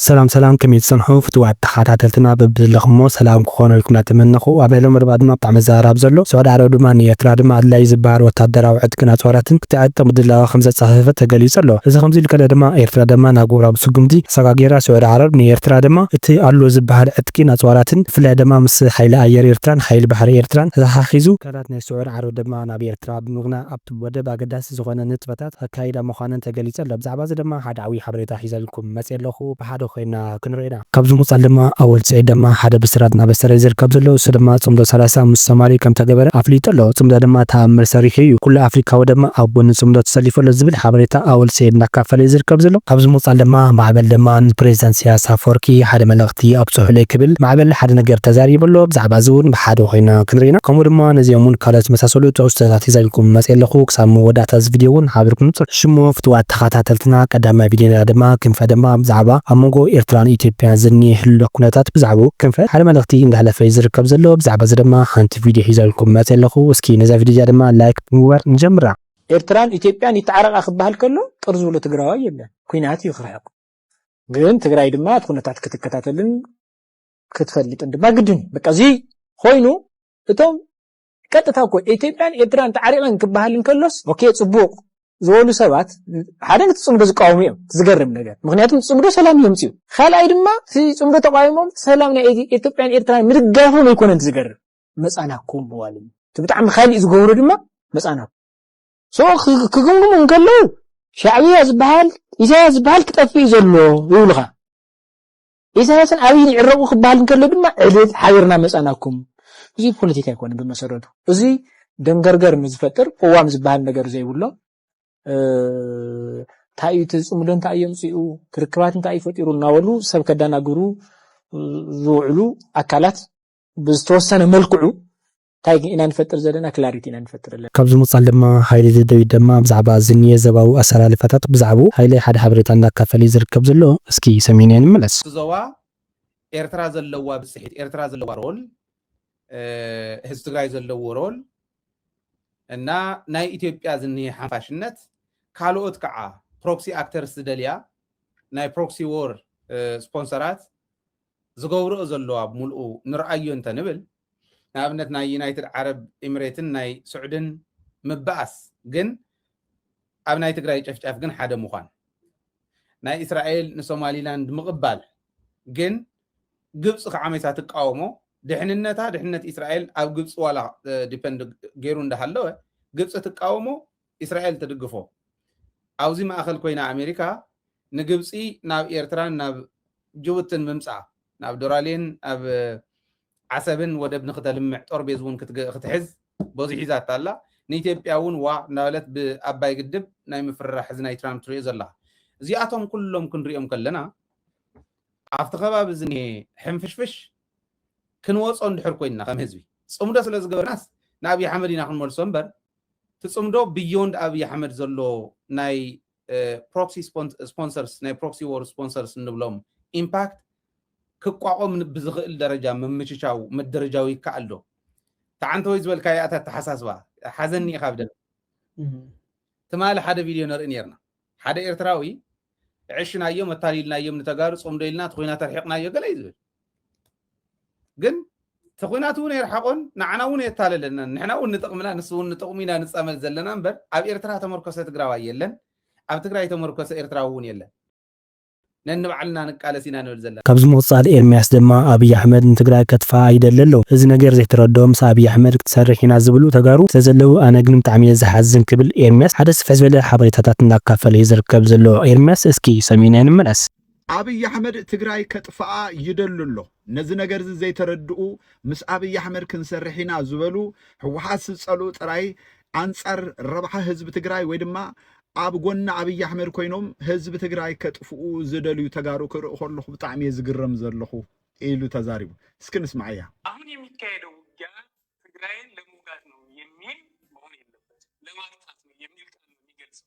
ሰላም ሰላም ከመይ ትጸንሑ ፍትዋት ተኻታተልትና በብዘለኽሞ ሰላም ክኾነልኩም ናተመነኹ ኣብ ልዕሊ መርባ ድማ ብጣዕሚ ዝዛራብ ዘሎ ስዑድ ዓረብ ድማ ንኤርትራ ድማ ኣድላይ ዝበሃል ወታደራዊ ዕጥቅን ኣጽዋራትን ክትዕጥቅ ምድላዋ ከምዘጻፈፈት ተገሊጹ ኣሎ እዚ ከምዚ ኢሉ ከለ ድማ ኤርትራ ድማ ናህጉራዊ ስጉምቲ ኣሰጋጊራ ስዑድ ዓረብ ንኤርትራ ድማ እቲ ኣሎ ዝበሃል ዕጥቂን ኣጽዋራትን ብፍላይ ድማ ምስ ሓይሊ ኣየር ኤርትራን ሓይሊ ባሕሪ ኤርትራን ተታሓሒዙ ትካላት ናይ ስዑድ ዓረብ ድማ ናብ ኤርትራ ብምግናዕ ኣብቲ ወደብ ኣገዳሲ ዝኾነ ንጥፈታት ከካይዳ ምዃነን ተገሊጹ ኣሎ። ብዛዕባዚ ድማ ሓደ ዓብዪ ሓበሬታ ሒዘልኩም መጺኤ ኣለኹ። ብሓደ ኮይንና ክንሪኦ ኢና። ካብዚ ምቕጻል ድማ ኣወል ስዒድ ድማ ሓደ ብስራት እናበሰረ እዩ ዝርከብ ዘሎ። ንሱ ድማ ጽምዶ ሰላሳ ምስ ሶማሊ ከም ተገበረ ኣፍሊጡ ኣሎ። ጽምዶ ድማ ተኣምር ሰሪሑ እዩ። ኩሉ ኣፍሪካዊ ድማ ኣብ ጎኒ ጽምዶ ተሰሊፉ ኣሎ ዝብል ሓበሬታ ኣወል ስዒድ እናካፈለ እዩ ዝርከብ ዘሎ። ካብዚ ምቕጻል ድማ ማዕበል ድማ ንፕሬዚዳንት ኢሰያስ ኣፈወርቂ ሓደ መልእኽቲ። እቲ ኣብጽሑለይ ክብል ማዕበል ሓደ ነገር ተዛሪቡ ኣሎ ብዛዕባ እዚ ውን ብሓደ ኮይና ክንርኢና ከምኡ ድማ ነዚኦም ውን ካልኦት ዝመሳሰሉ ትሕዝቶታት ሒዘልኩም መጽየ ኣለኩ ክሳብ መወዳእታ እዚ ቪድዮ ውን ሓቢርኩም ንጹር እሺ እሞ ፍትዋት ተከታተልትና ቀዳማይ ቪድዮና ድማ ክንፈ ድማ ብዛዕባ ኣብ መንጎ ኤርትራን ኢትዮጵያን ዝኒኤ ህሉክ ኩነታት ብዛዕብኡ ክንፈ ሓደ መልእክቲ እንዳሕለፈ ዩ ዝርከብ ዘሎ ብዛዕባ እዚ ድማ ሓንቲ ቪድዮ ሒዘልኩም መጽየ ኣለኩ እስኪ ነዛ ቪድዮ እዚኣ ድማ ላይክ ብምግባር ንጀምራ። ኤርትራን ኢትዮጵያን ይተዓረቃ ክበሃል ከሎ ቅር ዝብሎ ትግራዋይ የለን ኩናት እዩ ክርሕቅ። ግን ትግራይ ድማ እቲ ኩነታት ክትከታተልን ክትፈልጥን ድማ ግድን በቃ እዚ ኮይኑ እቶም ቀጥታ እኮ ኢትዮጵያን ኤርትራን ተዓሪቐን ክበሃል እንከሎስ ኦኬ ፅቡቕ ዝበሉ ሰባት ሓደ ነቲ ፅምዶ ዝቃወሙ እዮም ዝገርም ነገር ምክንያቱም ፅምዶ ሰላም የምፅኡ ካልኣይ ድማ እቲ ፅምዶ ተቃዊሞም ሰላም ናይ ኢትዮጵያን ኤርትራን ምድጋፎም ኣይኮነን ዝገርም መፃናኩም መዋልም እቲ ብጣዕሚ ካሊእ ዝገብሩ ድማ መፃናኩም ሽዑ ክግምግሙ እንከለዉ ሻዕብያ ዝበሃል ኢሳያስ ዝበሃል ክጠፍእ እዩ ዘሎ ይብሉኻ ኢሳያስን ኣብይን ይዕረቑ ክበሃል እንከሎ ድማ ዕልል ሓቢርና መፃናኩም እዚ ፖለቲካ ኣይኮነን ብመሰረቱ እዚ ደንገርገር ንዝፈጥር ቅዋም ዝበሃል ነገር ዘይብሎ እንታይ እዩ እቲ ፅምዶ እንታይ እዩ ኣምፅኡ ክርክባት እንታይ እዩ ፈጢሩ እናበሉ ሰብ ከዳናግሩ ዝውዕሉ ኣካላት ብዝተወሰነ መልክዑ ታይ ኢና ንፈጥር ዘለና ክላሪቲ ኢና ንፈጥር ዘለና። ካብዚ ምቕጻል ድማ ሃይለ ደደቢት ደማ ብዛዕባ ዝንየ ዘባዊ ኣሰላልፋታት ብዛዕብኡ ሃይለ ሓደ ሓበሬታ እንዳካፈለ ዩ ዝርከብ ዘሎ እስኪ ሰሚዕናዮ ንመለስ። እቲ ዞባ ኤርትራ ዘለዋ ብጽሒት ኤርትራ ዘለዋ ሮል ህዝቢ ትግራይ ዘለዎ ሮል እና ናይ ኢትዮጵያ ዝንሄ ሓንፋሽነት ካልኦት ከዓ ፕሮክሲ ኣክተርስ ዝደልያ ናይ ፕሮክሲ ዎር ስፖንሰራት ዝገብርኦ ዘለዋ ብሙልኡ ንርኣዮ እንተንብል ንኣብነት ናይ ዩናይትድ ዓረብ ኢምሬትን ናይ ሱዕድን ምባኣስ ግን ኣብ ናይ ትግራይ ጨፍጫፍ ግን ሓደ ምዃን ናይ እስራኤል ንሶማሊላንድ ምቕባል ግን ግብፂ ከዓ መይሳ ትቃወሞ ድሕንነታ ድሕንነት እስራኤል ኣብ ግብፂ ዋላ ዲፐንድ ገይሩ እንዳሃለወ ግብፂ ትቃወሞ እስራኤል ትድግፎ ኣብዚ ማእኸል ኮይና ኣሜሪካ ንግብፂ ናብ ኤርትራን ናብ ጅቡትን ምምፃእ ናብ ዶራሌን ኣብ ዓሰብን ወደብ ንክተልምዕ ጦርቤዝ ውን ክትሕዝ በዙሕ ሒዛታ ኣላ ንኢትዮጵያ ውን ዋእ እንዳበለት ብኣባይ ግድብ ናይ ምፍርራሕ እዚ ናይ ትራምፕ ትሪኦ ዘለኻ እዚኣቶም ኩሎም ክንሪኦም ከለና ኣብቲ ከባቢ ዝኒሀ ሕንፍሽፍሽ ክንወፆ እንድሕር ኮይንና ከም ህዝቢ ፅምዶ ስለ ዝገበርናስ ንኣብይ ኣሕመድ ኢና ክንመልሶ እምበር እቲ ፅምዶ ብዮንድ ኣብይ ኣሕመድ ዘሎ ናይ ፕሮክሲ ስፖንሰርስ ናይ ፕሮክሲ ዎር ስፖንሰርስ እንብሎም ኢምፓክት ክቋቖም ብዝኽእል ደረጃ ምምችቻው ምድርጃው ይከኣል ዶ? ተዓንተወይ ዝበልካያ እታ ኣተሓሳስባ ሓዘኒ ኢኻ ብደም ትማሊ ሓደ ቪድዮ ንርኢ ነርና ሓደ ኤርትራዊ ዕሽናዮም ኣታሊልናዮም ንተጋሩ ጾምዶ ኢልና እቲ ኩናት ኣርሒቕናዮ ገለ እዩ ዝብል ግን ተኹናት እውን የርሓቆን ንዓና እውን የታለለናን ንሕና እውን ንጥቕምና ንሱ እውን ንጥቕሙ ኢና ንፃመድ ዘለና እምበር ኣብ ኤርትራ ተመርኮሰ ትግራዋይ የለን ኣብ ትግራይ ተመርኮሰ ኤርትራዊ እውን የለን ነንባዕልና ንቃለስ ኢና ንብል ዘለና ካብዚ ምቕፃል ኤርሚያስ ድማ ኣብይ ኣሕመድ ንትግራይ ከጥፍኣ ይደሊ ኣሎ እዚ ነገር ዘይተረድኦ ምስ ኣብይ ኣሕመድ ክትሰርሕ ኢና ዝብሉ ተጋሩ ስለዘለው ኣነ ግን ብጣዕሚ እየ ዝሓዝን ክብል ኤርሚያስ ሓደ ስፍሕ ዝበለ ሓበሬታታት እናካፈለ እዩ ዝርከብ ዘሎ ኤርሚያስ እስኪ ሰሚዕናዮ ንመለስ። ኣብይ ኣሕመድ ትግራይ ከጥፍኣ ይደሉ ኣሎ ነዚ ነገርዚ ዘይተረድኡ ምስ ኣብይ ኣሕመድ ክንሰርሕ ኢና ዝበሉ ህወሓት ዝፀልኡ ጥራይ ኣንፃር ረብሓ ህዝቢ ትግራይ ወይ ድማ ኣብ ጎኒ ኣብይ ኣሕመድ ኮይኖም ህዝቢ ትግራይ ከጥፍኡ ዝደልዩ ተጋሩ ክርኢ ከለኹ ብጣዕሚ እየ ዝግረም ዘለኹ ኢሉ ተዛሪቡ እስኪ ንስማዓያ። አሁን የሚካሄደው ውጊያ ትግራይን ለመውጋት ነው የሚል መሆን የለበትም ለማጥፋት ነው የሚል ቃል ነው የሚገልጸው።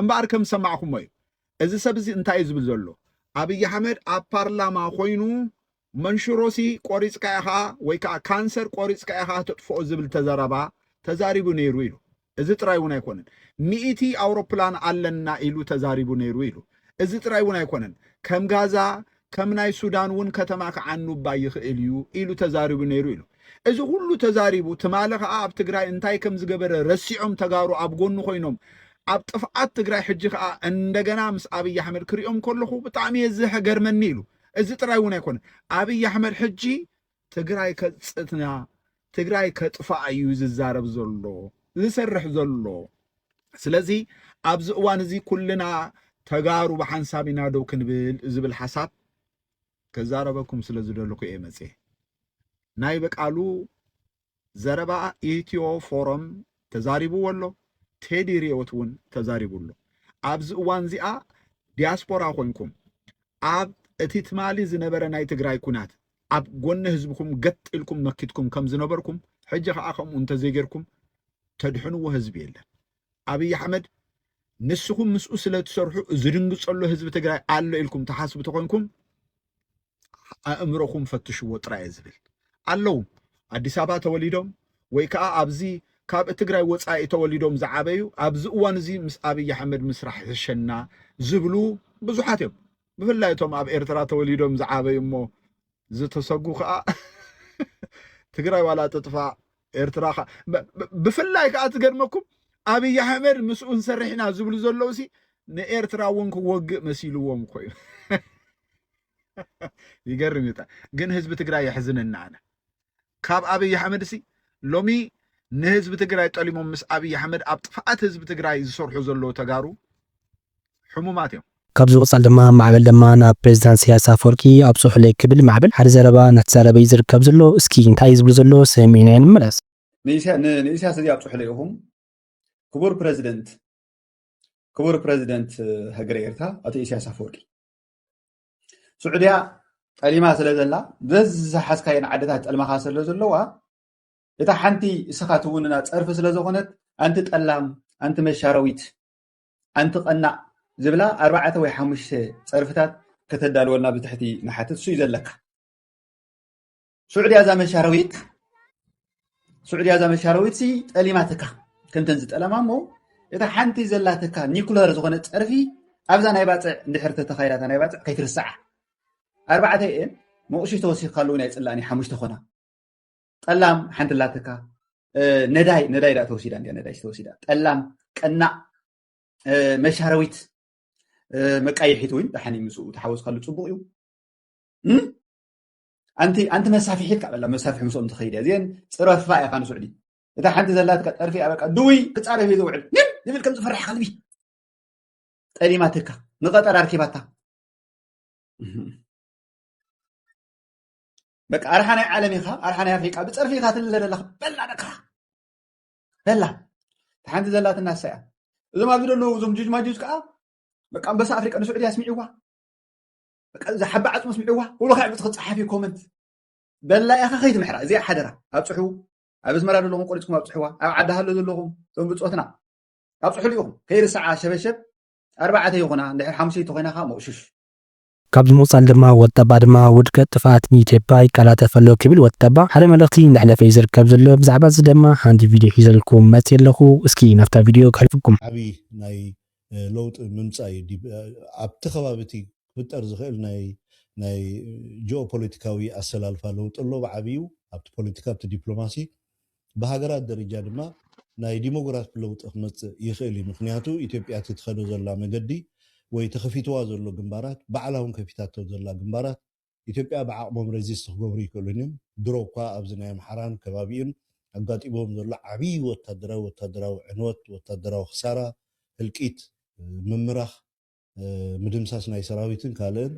እምበኣር ከም ዝሰማዕኩሞ እዩ እዚ ሰብ እዚ እንታይ እዩ ዝብል ዘሎ ኣብይ ኣሕመድ ኣብ ፓርላማ ኮይኑ መንሽሮሲ ቆሪፅካ ኢኻ ወይ ከዓ ካንሰር ቆሪፅካ ኢኻ ተጥፍኦ ዝብል ተዘረባ ተዛሪቡ ነይሩ ኢሉ እዚ ጥራይ እውን ኣይኮነን ሚእቲ ኣውሮፕላን ኣለና ኢሉ ተዛሪቡ ነይሩ ኢሉ እዚ ጥራይ እውን ኣይኮነን ከም ጋዛ ከም ናይ ሱዳን እውን ከተማ ክዓኑባ ይኽእል እዩ ኢሉ ተዛሪቡ ነይሩ ኢሉ። እዚ ኩሉ ተዛሪቡ ትማሊ ከዓ ኣብ ትግራይ እንታይ ከም ዝገበረ ረሲዖም ተጋሩ ኣብ ጎኑ ኮይኖም ኣብ ጥፍኣት ትግራይ ሕጂ ከዓ እንደገና ምስ ኣብይ ኣሕመድ ክሪኦም ከለኹ ብጣዕሚ እየ ዝገርመኒ ኢሉ። እዚ ጥራይ እውን ኣይኮነ ኣብይ ኣሕመድ ሕጂ ትግራይ ከጽትና ትግራይ ከጥፋኣ እዩ ዝዛረብ ዘሎ ዝሰርሕ ዘሎ ስለዚ ኣብዚ እዋን እዚ ኩልና ተጋሩ ብሓንሳብ ኢና ደው ክንብል ዝብል ሓሳብ ከዛረበኩም ስለ ዝደልኩ እየ መፅየ ናይ በቃሉ ዘረባ ኢትዮ ፎረም ተዛሪብዎ ኣሎ፣ ቴዲ ሪዮት እውን ተዛሪቡ ኣሎ። ኣብዚ እዋን እዚኣ ዲያስፖራ ኮንኩም ኣብ እቲ ትማሊ ዝነበረ ናይ ትግራይ ኩናት ኣብ ጎኒ ህዝብኩም ገጥ ኢልኩም መኪትኩም ከም ዝነበርኩም ሕጂ ከዓ ከምኡ እንተዘይጌርኩም ተድሕንዎ ህዝቢ የለን። ኣብይ ኣሕመድ ንስኹም ምስኡ ስለ ትሰርሑ ዝድንግጸሎ ህዝቢ ትግራይ ኣሎ ኢልኩም ትሓስቡ ተኾይንኩም ኣእምሮኹም ፈትሽዎ ጥራይ እየ ዝብል ኣለዉ ኣዲስ ኣበባ ተወሊዶም ወይ ከዓ ኣብዚ ካብ ትግራይ ወፃኢ ተወሊዶም ዝዓበዩ ኣብዚ እዋን እዚ ምስ ኣብይ ኣሕመድ ምስራሕ ሕሸና ዝብሉ ብዙሓት እዮም ብፍላይ እቶም ኣብ ኤርትራ ተወሊዶም ዝዓበዩ እሞ ዝተሰጉ ከዓ ትግራይ ዋላ ትጥፋእ ኤርትራ ከ- ብ- ብ- ብፍላይ ከዓ ትገርመኩም ኣብይ ኣሕመድ ምስኡ ንሰርሕ ኢና ዝብሉ ዘለዉ ሲ ንኤርትራ እውን ክወግእ መሲልዎም እኮ እዩ ይገርም እዩ ጣ- ግን ህዝቢ ትግራይ የሕዝነና ኣነ ካብ ኣብይ ኣሕመድ ሲ ሎሚ ንህዝቢ ትግራይ ጠሊሞም ምስ ኣብይ ኣሕመድ ኣብ ጥፍኣት ህዝቢ ትግራይ ዝሰርሑ ዘለዉ ተጋሩ ሕሙማት እዮም። ካብዚ ብቕጻል ድማ ማዕበል ለማ ናብ ፕሬዚዳንት ኢሰያስ ኣፈወርቂ ኣብጽሑለይ ክብል ማዕበል ሓደ ዘረባ እናተዛረበ እዩ ዝርከብ ዘሎ። እስኪ እንታይ እዩ ዝብሉ ዘሎ ሰሚዕናዮ ንመለስ። ንኢሰያስ እዚ ኣብጽሑለይ ኢኹም ክቡር ፕረዚደንት ክቡር ፕረዚደንት ሃገረ ኤርትራ ኣቶ ኢሰያስ ኣፈወርቂ ስዑድያ ጠሊማ ስለ ዘላ ዘዝሓዝካየን ዓድታት ጠልማኻ ስለ ዘለዋ እታ ሓንቲ እስኻ ትውንና ፀርፊ ስለ ዝኾነት ኣንቲ ጠላም ኣንቲ መሻረዊት ኣንቲ ቀናእ ዝብላ ኣርባዕተ ወይ ሓሙሽተ ፀርፍታት ከተዳልወና ብትሕቲ ንሓትት እሱዩ ዘለካ ሱዕድያ እዛ መሻረዊት ሱዕድያ እዛ መሻረዊት ሲ ጠሊማትካ ከምተን ዝጠለማ እሞ እታ ሓንቲ ዘላትካ ኒኩለር ዝኾነ ፀርፊ ኣብዛ ናይ ባፅዕ እንድሕር ተተኻይዳታ ናይ ባፅዕ ከይትርስዓ ኣርባዕተ እየን መቑሽሽ ተወሲኽካሉ እውን ኣይፅላእን እዩ ሓሙሽተ ኮና ጠላም ሓንቲ ኣላትካ ነዳይ ነዳይ ዳ ተወሲዳ እንዲያ ነዳይ ተወሲዳ ጠላም ቀናእ መሻረዊት መቃይሒት እውን ደሓን እዩ ምስኡ ተሓወስካሉ ፅቡቅ እዩ ኣንቲ ኣንቲ መሳፍሒት ካብ ኣላ መሳፍሒ ምስኦም ትኸይድ እያ እዚአን ፅረፋ እያ ካን ስዑዲ እታ ሓንቲ ዘላትካ ጠርፊ እያ በቃ ድውይ ክፃረፍ እዩ ዝውዕል ግን ዝብል ከም ዝፈራሕ ከልቢ ጠሊማትካ ንቀጠር ኣርኪባታ በቃ ኣርሓ ናይ ዓለም ኢኻ ኣርሓ ናይ ኣፍሪቃ ብፀርፊ ኢኻ ትልለ ዘለኻ በላ ደካ በላ እታ ሓንቲ ዘላትና እሳ እያ እዞም ኣብዚ ዘለዉ እዞም ጅጅማጁዝ ከዓ በቃ ኣንበሳ ኣፍሪቃ ንስዑድያ ኣስሚዕዋ በቃ እዛ ሓባ ዓጽሚ ስምዕዋ ኩሉ ካብ ዕጽ ክጽሓፍ እዩ ኮመንት በላ ኢኻ ከይትምሕራ እዚኣ ሓደራ ኣብጽሑ ኣብ ኣዝመራ ዘለኹም ቆሪፅኩም ኣብፅሕዋ ኣብ ዓዲ ሃሎ ዘለኹም እቶም ብፆትና ኣብፅሕሉ ኢኹም ከይርሰዓ ሸበሸብ ኣርባዕተ ይኹና እንድሕር ሓሙሸይቲ ኮይና ከዓ መቑሽሽ ካብዚ ምቕፃል ድማ ወጠባ ድማ ውድቀት ጥፍኣት ንኢትዮጵያ ይቀላጠፍ ኣሎ ክብል ወጠባ ሓደ መልእኽቲ እንዳሕለፈ እዩ ዝርከብ ዘሎ ብዛዕባ እዚ ድማ ሓንቲ ቪድዮ ሒዘልኩም መፅየ ኣለኹ እስኪ ናብታ ቪድዮ ከሕልፍኩም ዓብዪ ናይ ለውጢ ምምፃእ እዩ ዲብ ኣብቲ ከባቢ እቲ ክፍጠር ዝኽእል ናይ ናይ ጂኦፖለቲካዊ ኣሰላልፋ ለውጢ ኣሎ ብዓብዩ ኣብቲ ፖለቲካ ኣብቲ ዲፕሎማሲ ብሃገራት ደረጃ ድማ ናይ ዲሞግራፊ ለውጢ ክመፅእ ይኽእል እዩ ምኽንያቱ ኢትዮጵያ እቲ ትኸዶ ዘላ መገዲ ወይ ተኸፊትዋ ዘሎ ግንባራት ባዕላ እውን ከፊታቶ ዘላ ግንባራት ኢትዮጵያ ብዓቕሞም ረዚስት ክገብሩ ኣይክእሉን እዮም። ድሮ እኳ ኣብዚ ናይ ኣምሓራን ከባቢኡን ኣጋጢምዎም ዘሎ ዓብዪ ወታደራዊ ወታደራዊ ዕንወት፣ ወታደራዊ ክሳራ፣ ህልቂት፣ ምምራኽ፣ ምድምሳስ ናይ ሰራዊትን ካልእን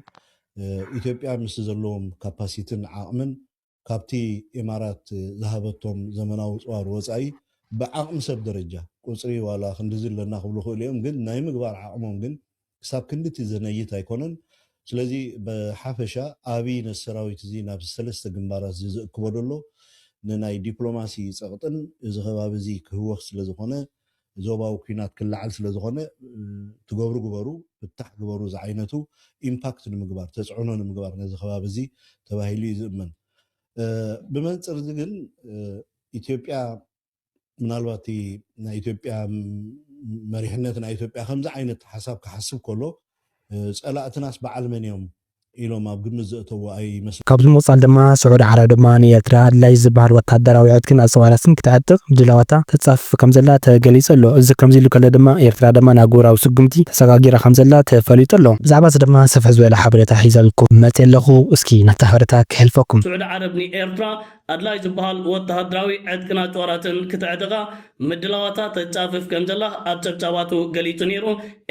ኢትዮጵያ ምስቲ ዘለዎም ካፓሲትን ዓቕምን ካብቲ ኢማራት ዝሃበቶም ዘመናዊ ኣጽዋር ወጻኢ ብዓቕሚ ሰብ ደረጃ፣ ቁጽሪ ዋላ ክንድዚ ኣለና ክብሉ ይኽእሉ እዮም ግን ናይ ምግባር ዓቕሞም ግን ክሳብ ክንድቲ ዘነይት ኣይኮነን። ስለዚ ብሓፈሻ ኣብይ ነዚ ሰራዊት እዚ ናብዚ ሰለስተ ግንባራት እዚ ዝእክቦ ዘሎ ንናይ ዲፕሎማሲ ጸቕጥን እዚ ከባቢ እዚ ክህወኽ ስለ ዝኾነ ዞባዊ ኩናት ክለዓል ስለ ዝኾነ ትገብሩ ግበሩ ፍታሕ ግበሩ ዝዓይነቱ ኢምፓክት ንምግባር ተፅዕኖ ንምግባር ነዚ ከባቢ እዚ ተባሂሉ እዩ ዝእመን። ብመንፅር እዚ ግን ኢትዮጵያ ምናልባት እቲ ናይ ኢትዮጵያ መሪሕነት ናይ ኢትዮጵያ ከምዚ ዓይነት ሓሳብ ክሓስብ ከሎ ፀላእትናስ በዓል መን እዮም ኢሎም ኣብ ግምት ዘእተዉ ኣይመስልን። ካብዚ ብምቕጻል ድማ ስዑዲ ዓረብ ድማ ንኤርትራ ኣድላዪ ዝበሃል ወተሃደራዊ ዕጥቅን ኣጽዋራትን ክትዕጥቕ ድላዋታ ተጻፍፍ ከም ዘላ ተገሊጹ ኣሎ። እዚ ከምዚ ኢሉ ከሎ ድማ ኤርትራ ድማ ንኣህጉራዊ ስጉምቲ ተሰጋጊራ ከም ዘላ ተፈሊጡ ኣሎ። ብዛዕባዚ ድማ ስፍሕ ዝበለ ሓበሬታ ሒዘልኩም መጺኤ ኣለኹ። እስኪ ነታ ሓበሬታ ከሕልፈኩም። ስዑዲ ዓረብ ንኤርትራ ኣድላዩ ዝበሃል ወተሃደራዊ ዕጥቅን ኣጽዋራትን ክተዕጥቓ ምድላዋታ ተጻፍፍ ከምዘላ ኣብ ጸብጻባቱ ገሊጹ ነይሩ።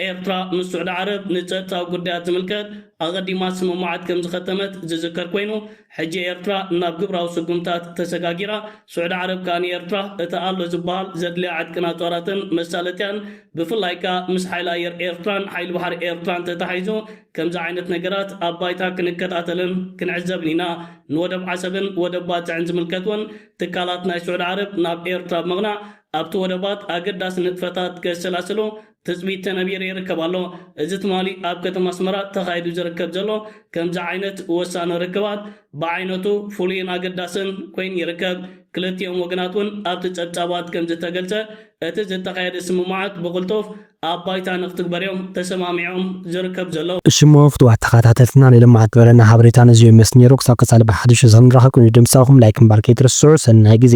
ኤርትራ ምስ ስዑዲ ዓረብ ንጸጥታዊ ጉዳያት ዝምልከት ኣቐዲማ ስምምዓት ከምዝኸተመት ዝዝከር ኮይኑ፣ ሕጂ ኤርትራ ናብ ግብራዊ ስጉምታት ተሰጋጊራ። ስዑዲ ዓረብ ከኣ ንኤርትራ እቲ ኣሎ ዝበሃል ዘድልያ ዕጥቅን ኣጽዋራትን መሳለጥያን ብፍላይ ከኣ ምስ ሓይሊ ኣየር ኤርትራን ሓይሊ ባሕሪ ኤርትራን ተተሓሒዙ ከምዚ ዓይነት ነገራት ኣብ ባይታ ክንከታተልን ክንዕዘብን ኢና ንወደብ ዓሰብን ወደብ ባጽዕን ዝምልከት'ውን ትካላት ናይ ስዑዲ ዓረብ ናብ ኤርትራ ብምቕናዕ ኣብቲ ወደባት ኣገዳሲ ንጥፈታት ከሰላስሉ ትጽቢት ተነቢሩ ይርከብ ኣሎ። እዚ ትማሊ ኣብ ከተማ ኣስመራ ተኻይዱ ዝርከብ ዘሎ ከምዚ ዓይነት ወሳኒ ርክባት ብዓይነቱ ፍሉይን ኣገዳስን ኮይኑ ይርከብ። ክልቲኦም ወገናት'ውን ኣብቲ ጸብጻባት ከምዝተገልጸ እቲ ዝተኻየደ ስምምዓት ብቕልጡፍ ኣብ ባይታ ንክትግበር እዮም ተሰማሚዖም ዝርከብ ዘሎ። እሽሞ ፍትዋት ተካታተልትና ናይ ሎማዓንቲ ዝበለና ሃበሬታ ነዙይ ይመስል ነይሩ ክሳብ ቀፃሊ ብሓዱሽ እስክንራከብ ቅድሚ ድምፃኩም ላይክ ምባል ከይትርስዑ ሰናይ ግዜ።